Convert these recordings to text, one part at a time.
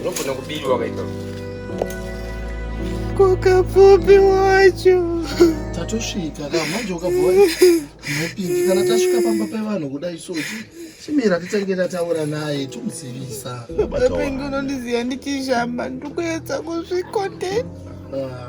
Unofana kubirwa wakaita kwakafupi wacho tatosvika ka manje ukabva mupingi kana tasvika pamba pevanhu kudai so chimira titange tataura naye tomuzivisa apingi unondiziva ndichishamba ndikuedza kuzvikotei ah.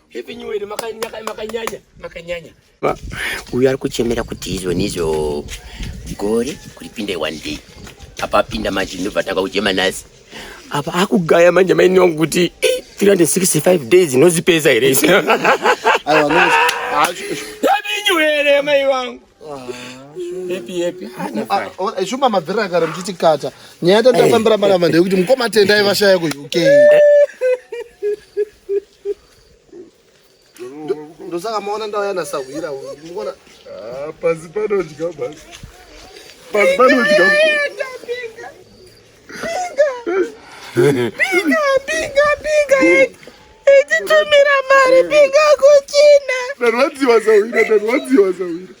Happy New Year makanyanya makanyanya makanyanya. Uyu ari kuchemera kuti izvo nizvo gore kuripinde one day. Apa apinda manje ndobva taka kuchema nasi. Apa akugaya manje maini wangu kuti 365 days inozipedza here isu. Aiwa no. Happy New Year mai wangu. Happy happy. Shuma mabvira kare mchiti kata. Nyaya tatafambira maramba ndekuti mukoma tendai vashaya ku UK. ndosaka maona ndauya nasahwira muona ah, pasi panodya basi pasi panodya pinga pinga pinga ititumira mari pinga kuchina ndarwadziwa sahwira ndarwadziwa sahwira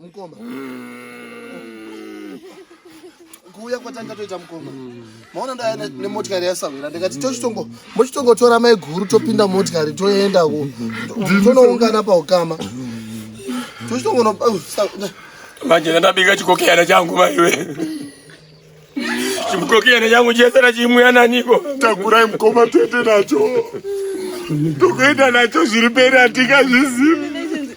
Mukoma. Kuuya kwatanga toita mukoma. Maona ndaya nemotikari yasahwira ndikati tochitongo mochitongotora mai guru topinda motikari toenda ku tonoungana paukama. Tochitongo no manje ndabika chikokeyana changu maiwe. Chikokeyana changu chese na chimuya naniko. Takurai mukoma tete nacho. Tokuenda nacho zviri pera tikazvizivi.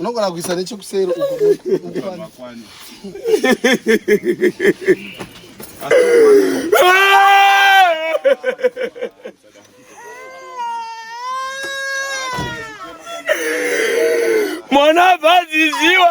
unogona kuisa nechekuseri mwana vaziziwa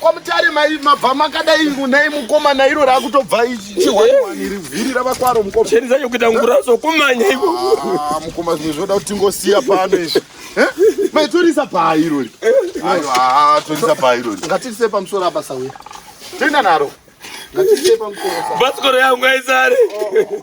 kwamutare mabva makadai nai mukoma nairo raakutobva chihwaniwaniri vhiri ravakwaro mukoma cheni zacho kuita nguraso kumanya iko ah, mukoma zvimwe zvinoda kuti tingosiya pano izvi eh? mai torisa bhaa irori ah, torisa bhaa irori ngatirise pamusoro apa sauya toenda naro ngatirise pamusoro bhasikoro yangu aizare oh.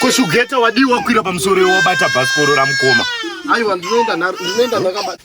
koshugeta wadii wakwira pamusoro iwe wabata bhasikoro ramukoma aiwa ndinoenda ndakabata